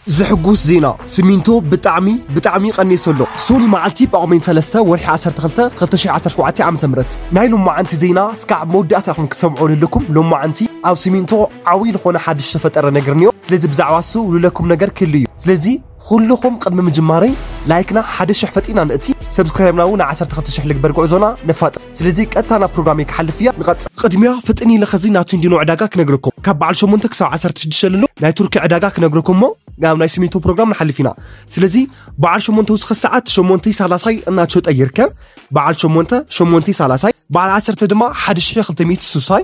ዘሕጉስ ዜና ስሚንቶ ብጣዕሚ ብጣዕሚ ቀኔሱ ኣሎ ሶኒ መዓልቲ ጳጉሜን ሰለስተ ወርሒ ዓሰርተ ክልተ ክልተ ሽሕ ዓሰርተ ሸውዓተ ዓመተ ምህረት ናይ ሎማዓንቲ ዜና ስካዕ ኣብ መወዳእታ ኢኩም ክትሰምዕዎ ለለኩም ሎማዓንቲ ኣብ ስሚንቶ ዓውይ ልኮነ ሓድሽ ዝተፈጠረ ነገር እንዮ ስለዚ ብዛዕባ እሱ ልለኩም ነገር ክህሉ እዩ ስለዚ ኩሉኩም ቅድሚ ምጅማረይ ላይክና ሓደ ሽሕ ፈጢና ንእቲ ሰብስክራይብና እውን ዓሰርተ ክልተ ሽሕ ልግበር ጉዕዞና ነፋጥን። ስለዚ ቀጥታ ናብ ፕሮግራመይ ክሓልፍ እያ ንቐጽል። ቕድሚያ ፍጥን ኢለ ኸዚ ናቱ እንዲኖ ዕዳጋ ክነግረኩም ካብ በዓል ሸሞንተ ክሳብ ዓሰርተ ሽዱሽተ ለሎ ናይ ቱርኪ ዕዳጋ ክነግረኩም እሞ ናብ ናይ ስሚንቶ ፕሮግራም ንሓልፍ ኢና ስለዚ በዓል ሸሞንተ ውስኸ ሰዓት ሸሞንተይ ሳላሳይ እናቸጠ ይርከብ በዓል ሸሞንተ ሸሞንተይ ሳላሳይ በዓል ዓሰርተ ድማ ሓደ ሽሕን ክልተ ሚእቲ ሱሳይ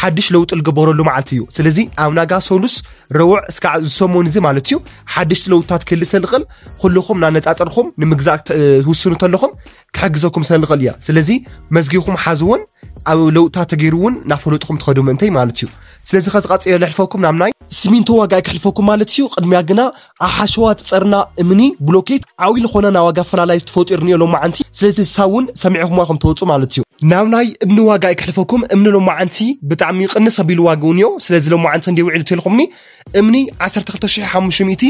ሓድሽ ለውጢ ልግበረሉ መዓልቲ እዩ ስለዚ ኣብ ናጋ ሰሉስ ረውዕ እስካዕ ዝሰሙን እዚ ማለት እዩ ሓድሽቲ ለውጥታት ክህሊ ሰልቕል ኩልኹም ናነፃፀርኹም ንምግዛእ ትውስኑ ተለኹም ክሕግዘኩም ሰልቕል እያ ስለዚ መዝጊኹም ሓዝውን ኣብ ለውጥታት ተገይሩ እውን ናፈለጥኹም ትኸዱ ምእንተይ ማለት እዩ ስለዚ ከዝቐፅዮ ልሕልፈኩም ናብ ናይ ሲሚንቶ ዋጋ ክሕልፈኩም ማለት እዩ ቅድሚያ ግና ኣብ ሓሸዋ ትጸርና እምኒ ብሎኬት ዓውይ ልኾነ ናይ ዋጋ ኣፈላላይ ትፈጢሩ እኒኦ ሎማዓንቲ ስለዚ እሳ እውን ሰሚዕኹምዋ ከም ትወጹ ማለት እዩ። ናብ ናይ እምኒ ዋጋ ኣይክሕልፈኩም እምኒ ሎማዓንቲ ብጣዕሚ ቅንስ ኣቢሉ ዋግኡ እኒኦ ስለዚ ሎማዓንቲ ክንደይ ውዒሉ ተልኹምኒ እምኒ ዓሰርተ ክልተ ሽሕ ሓሙሽተ ሚእቲ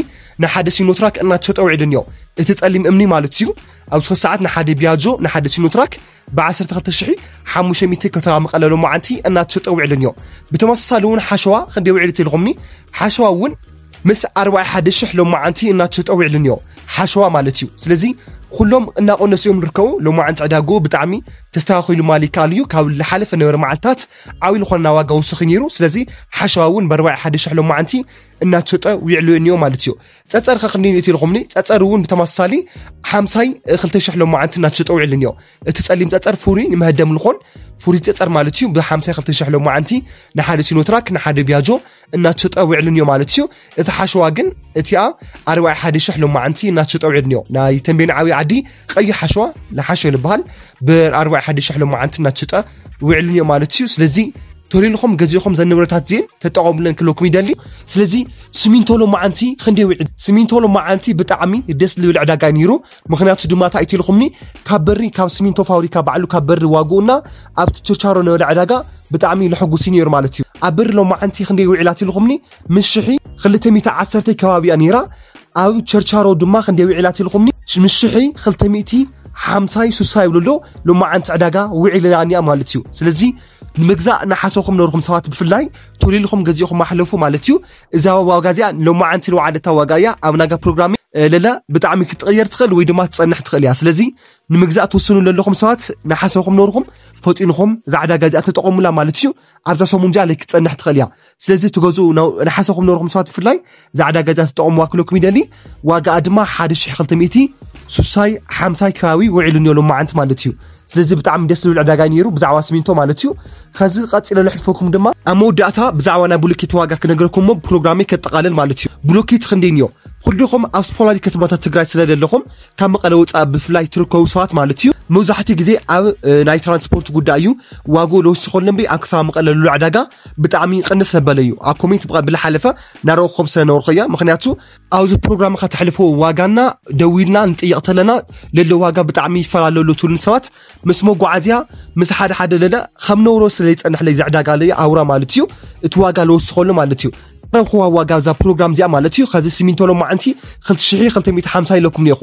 ንሓደ ሲኖትራክ እናተሸጠ ውዒሉ እኒኦ እቲ ጸሊም እምኒ ማለት እዩ ኣብዚ ሕዚ ሰዓት ንሓደ ቢያጆ ንሓደ ሲኖትራክ ብዓሰርተ ክልተ ሽሕ ሓሙሽተ ሚእቲ ከተማ መቐለ ሎማዓንቲ እናተሸጠ ውዒሉን እዮ ብተመሳሳሊ እውን ሓሸዋ ክንደይ ውዒሉ ትልኹምኒ ሓሸዋ እውን ምስ ኣርባዕ ሓደ ሽሕ ሎማዓንቲ እናተሸጠ ውዒሉን እዮ ሓሸዋ ማለት እዩ ስለዚ ኩሎም እናቆነሱ እዮም ዝርከቡ ሎማዓንቲ ዕዳጉ ብጣዕሚ ተስተኻኺሉ ማል ይከኣል እዩ ካብ ዝሓለፈ ነበረ መዓልትታት ዓብዪ ዝኾነ ናብ ዋጋ ወስኺ ነይሩ ስለዚ ሓሸዋ እውን ብኣርባዕ ሓደ ሽሕ ሎማዓንቲ እናተሸጠ ውዒሉ እዮ ማለት እዩ ጸጸር ከክኒ እቲ ኢልኹምኒ ጸጸር እውን ብተመሳሳሊ ሓምሳይ ክልተ ሽሕ ሎማዓንቲ እናተሸጠውዕልን እዮ እቲ ጸሊም ጸጸር ፍሩይ ንመሀደም ልኾን ፍሩይ ጸጸር ማለት እዩ ብሓምሳይ ክልተ ሽሕ ሎማዓንቲ ንሓደ ሲኖትራክ ንሓደ ቢያጆ እናተሸጠውዕልን እዮ ማለት እዩ እቲ ሓሸዋ ግን እቲኣ ኣርባዕ ሓደ ሽሕ ሎማዓንቲ እናተሸጠውዕልን እዮ ናይ ተንቤን ዓብይ ዓዲ ቀይሕ ሓሸዋ ንሓሸ ንበሃል ብኣርባዕ ሓደ ሸሕ ሎመዓንቲ እናትሽጠ ውዕልን እዮ ማለት እዩ ስለዚ ተልልኹም ገዚእኹም ዘን ንብረታት እዚን ተጠቐሙለን ክለኩም ይደሊ ስለዚ ስሚንቶ ሎመዓንቲ ክንደይ ውዕል ስሚንቶ ሎመዓንቲ ብጣዕሚ ደስ ዝብል ዕዳጋ ነይሩ ምክንያቱ ድማ እንታይ እትልኹምኒ ካብ በሪ ካብ ስሚንቶ ፋብሪካ ባዕሉ ካብ በሪ ዋግኡና ኣብቲ ችርቻሮ ነበረ ዕዳጋ ብጣዕሚ ልሕጉሲ ነይሩ ማለት እዩ ኣብ በሪ ሎመዓንቲ ክንደይ ውዒላት ኢልኹምኒ ምስ ሽሒ ክልተ ሚእቲ ዓሰርተይ ከባቢ እያ ነይራ ኣብ ቸርቻሮ ድማ ክንደይ ውዒላ ትልኹምኒ ምስ ሽሒ ክልተ ሚእቲ ሓምሳይ ሱሳ ይብሉ ኣሎ ሎማዓንቲ ዕዳጋ ውዒልላኒያ ማለት እዩ ስለዚ ንምግዛእ ንሓሰኹም ነርኹም ሰባት ብፍላይ ቶሊልኹም ገዚእኹም ኣሕለፉ ማለት እዩ እዛ ዋጋ እዚኣ ሎማዓንቲ ልውዓለታ ዋጋ እያ ኣብ ናጋ ፕሮግራም ለለ ብጣዕሚ ክትቕየር ትኽእል ወይ ድማ ትፀንሕ ትኽእል እያ ስለዚ ንምግዛእ ትውስኑ ዘለኹም ሰባት ንሓሰኹም ነርኹም ፈጢንኹም እዛ ዕዳጋ እዚኣ ተጠቐሙላ ማለት እዩ ኣብዛ ሰሙን እዚኣ ለይ ክትፀንሕ ትኽእል እያ ስለዚ ትገዝኡ ንሓሰኹም ነርኹም ሰባት ብፍላይ እዛ ዕዳጋ እዛ ትጠቕምዋ ክለኩም ይደሊ ዋጋኣ ድማ 1200 ሱሳይ ሓምሳይ ከባቢ ውዒሉ እኒኦ ሎማዓንቲ ማለት እዩ ስለዚ ብጣዕሚ ደስ ዝብል ዕዳጋ ነይሩ ብዛዕባ ስሚንቶ ማለት እዩ ከዚ ቀፂለ ለሕልፈኩም ድማ ኣብ መወዳእታ ብዛዕባ ናይ ብሎኬት ዋጋ ክነገረኩም እሞ ፕሮግራመይ ከጠቓልል ማለት እዩ ብሎኬት ክንደይ እኒኦ ኩልኹም ኣብ ዝተፈላለዩ ከተማታት ትግራይ ስለ ዘለኹም ካብ መቐለ ወፃእ ብፍላይ ትርከቡ ሰባት ማለት እዩ መብዛሕትኡ ግዜ ኣብ ናይ ትራንስፖርት ጉዳይ እዩ ዋግኡ ለውስኸሉ እምበይ ኣብ ከተማ መቐለ ልሉ ዕዳጋ ብጣዕሚ ቅንስ ዘበለ እዩ ኣብ ኮሜንት ብልሓለፈ ናረእኹም ስለነበርኩ እያ ምክንያቱ ኣብዚ ፕሮግራም ካብ ተሕልፎ ዋጋና ደዊልና ንጥየቕ ተለና ለሎ ዋጋ ብጣዕሚ ይፈላለሉ ትብሉን ሰባት ምስ መጓዓዝያ ምስ ሓደ ሓደ ለለ ከም ነውሮ ስለ ይፀንሕለይ ዘዕዳጋ ለይ ኣውራ ማለት እዩ እቲ ዋጋ ዝወስኸሉ ማለት እዩ ረብኹዋ ዋጋ እዛ ፕሮግራም እዚኣ ማለት እዩ ከዚ ሲሚንቶ ሎማዓንቲ 2250 ኢለኩም ኔኹ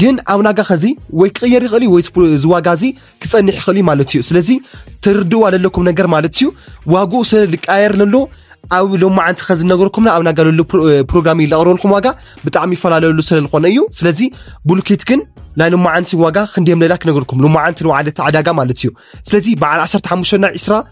ግን ኣብ ናጋ ከዚ ወይ ክቕየር ይኽእል እዩ ወይ ዝዋጋ እዚ ክጸንሕ ይኽእል እዩ ማለት እዩ ስለዚ ትርድእዋ ዘለኩም ነገር ማለት እዩ ዋግኡ ስለ ዝቀያየር ዘሎ ኣብ ሎማዓንቲ ከዝነገርኩምና ኣብ ናጋለሉ ፕሮግራም እዩ ዘቕርበልኩም ዋጋ ብጣዕሚ ይፈላለሉ ስለ ዝኾነ እዩ ስለዚ ቡልኬት ግን ናይ ሎማዓንቲ ዋጋ ክንደዮም ሌላ ክነገርኩም ሎማዓንቲ ንባዕለቲ ዕዳጋ ማለት እዩ ስለዚ በዓል 15 ና 20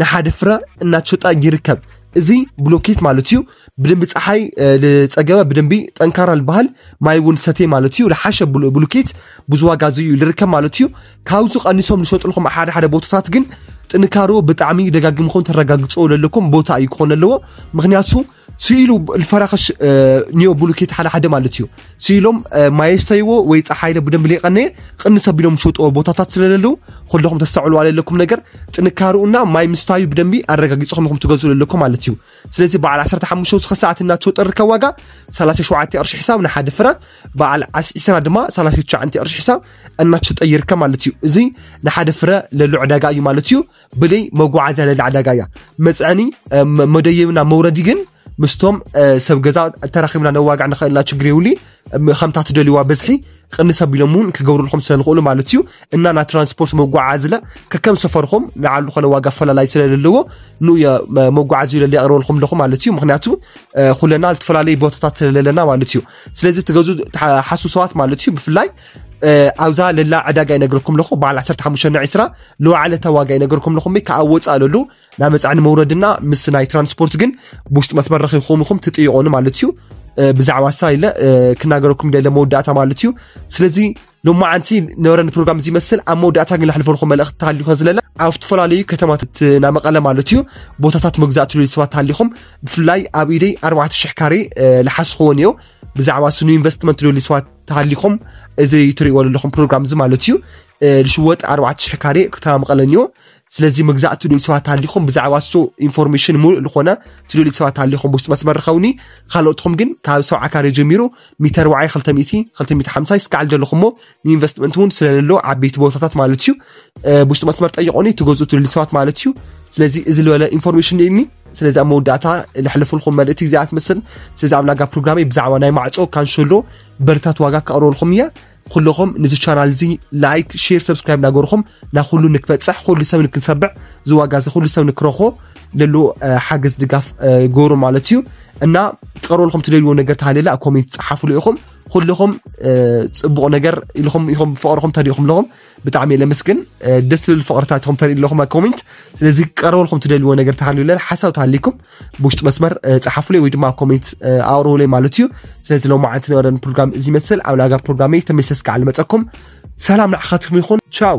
ንሓደ ፍረ እናተሸጣ ይርከብ። እዚ ብሎኬት ማለት እዩ ብደንቢ ፀሓይ ዝፀገበ ብደንቢ ጠንካራ ዝበሃል ማይ እውን ሰቴ ማለት እዩ ዝሓሸ ብሎኬት ብዙ ዋጋ እዚ እዩ ዝርከብ ማለት እዩ ካብዚ ቀኒሶም ዝሸጥልኩም ሓደ ሓደ ቦታታት ግን ጥንካሮ ብጣዕሚ ደጋግምኩም ተረጋግፅዎ ዘለኩም ቦታ እዩ ክኾን ኣለዎ ምክንያቱ ስኢሉ ልፈራክሽ ኒዮ ብሉኬት ሓደ ሓደ ማለት እዩ ስኢሎም ማየስተይዎ ወይ ፀሓይለ ብደንብ ሌቀነየ ቅንስ ኣቢሎም ዝሸጥዎ ቦታታት ስለለለዉ ኩለኹም ተስተዕሉ ኣለለኩም ነገር ጥንካርኡና ማይ ምስታዩ ብደንቢ ኣረጋጊፅኹም ኢኹም ትገዝኡ ኣለኩም ማለት እዩ ስለዚ በዓል 15 ዝኸ ሰዓት እናቸው ጠርከ ዋጋ 37 ቅርሺ ሒሳብ ንሓደ ፍረ በዓል 20 ድማ 39 ቅርሺ ሒሳብ እናቸው ጠይርከ ማለት እዩ እዚ ንሓደ ፍረ ለሉ ዕዳጋ እዩ ማለት እዩ ብልይ መጓዓዝያ ልዕሊ ዕዳጋ እያ መፅዕኒ መደየብና መውረዲ ግን ምስቶም ሰብ ገዛ ተራኺብና ነዋግዕ ንኽእልና ችግር የብሉ ከምታ ትደልዋ በዝሒ ቅንስ ኣቢሎም እውን ክገብሩልኩም ስለዝኽእሉ ማለት እዩ እና ናይ ትራንስፖርት መጓዓዝለ ከከም ሰፈርኩም ንዓሉ ኮነ ዋጋ ኣፈላላይ ስለዘለዎ ንኡ መጓዓዚ ለለ የቕርበልኩም ኣለኹ ማለት እዩ ምክንያቱ ኩለና ዝተፈላለዩ ቦታታት ስለለለና ማለት እዩ ስለዚ ትገዙ ሓሱ ሰባት ማለት እዩ ብፍላይ ኣብዛ ለላ ዕዳጋ ይነግርኩም ኣለኹ በዓል 15 ና 20 ልዋዕለተ ዋጋ ይነግርኩም ኣለኹ ካብ ወፃእ ለሉ ናብ መፃዕኒ መውረድና ምስ ናይ ትራንስፖርት ግን ብውሽጢ መስመር ረኺብኩም ኢኹም ትጥይቆኑ ማለት እዩ ብዛዕባ ሳ ኢለ ክናገረኩም ደለ መወዳእታ ማለት እዩ ስለዚ ሎማዓንቲ ነበረኒ ፕሮግራም እዚ ይመስል ኣብ መወዳእታ ግን ዝሕልፈልኩም መልእኽቲ ተሃልዩ ከዝለለ ኣብ ዝተፈላለዩ ከተማታት ናብ መቐለ ማለት እዩ ቦታታት መግዛእቲ ልል ሰባት ተሃሊኹም ብፍላይ ኣብ ኢደይ 400 ካሬ ልሓስኹዎ እዮ ብዛዕባ ስኑ ኢንቨስትመንት ልል ሰባት ተሃሊኹም እዚ ትሪእዎ ዘለኹም ፕሮግራም እዚ ማለት እዩ ልሽወጥ 4,000 ካሬ ከተማ መቐለ እኒኦ ስለዚ ምግዛእ ትደልዩ ሰባት ሃሊኹም ብዛዕባ እሱ ኢንፎርሜሽን ሙሉእ ዝኾነ ትደልዩ ሰባት ሃሊኹም ብውሽጢ መስመር ርኸውኒ ካልኦትኹም ግን ካብ ሰብዓ ካሬ ጀሚሩ ሚተር ዋዓይ 250 ስካዕ ዘለኹሞ ንኢንቨስትመንት እውን ስለለሎ ዓበይቲ ቦታታት ማለት እዩ ብውሽጢ መስመር ጠይቆኒ ትገዝኡ ትደልዩ ሰባት ማለት እዩ ስለዚ እዚ ዝበለ ኢንፎርሜሽን እኒ ስለዚ ኣብ መወዳእታ ለሕልፍልኩም መልእቲ እዚኣ ትምስል ስለዚ ኣብ ላጋ ፕሮግራመይ ብዛዕባ ናይ ማዕፆ ካንሸሎ በርታት ዋጋ ክቐርበልኩም እያ ኩለኹም ንዚ ቻናል እዚ ላይክ ሼር ሰብስክራይብ እናገርኹም ናብ ኩሉ ንክበፅሕ ኩሉ ሰብ ንክንሰብዕ እዚ ዋጋ እዚ ኩሉ ሰብ ንክረኾ ለሎ ሓገዝ ድጋፍ ገሩ ማለት እዩ እና ክቐርበልኩም ትደልዎ ነገር ተሃለለ ኣብ ኮሜንት ፀሓፍሉ ኢኹም ኩልኹም ፅቡቕ ነገር ኢልኹም ኢኹም ብፍቕርኹም ተሪእኹም ኣለኹም ብጣዕሚ እየ ለምስግን ደስ ዝብል ፍቅርታት ኢኹም ተርኢ ኣለኹም ኮሜንት ስለዚ ክቀረበልኩም ትደልዎ ነገር ተሃልዩ ለለ ሓሳብ ተሃሊኩም ብውሽጢ መስመር ፀሓፉለይ ወይ ድማ ኣብ ኮሜንት ኣቅርቡለይ ማለት እዩ ስለዚ ሎማ ዓንቲ ነበረን ፕሮግራም እዚ ይመስል ኣብ ላጋ ፕሮግራም እየ ተመሰስ ከዓ ልመፀኩም ሰላም ንዓኻትኩም ይኹን ቻው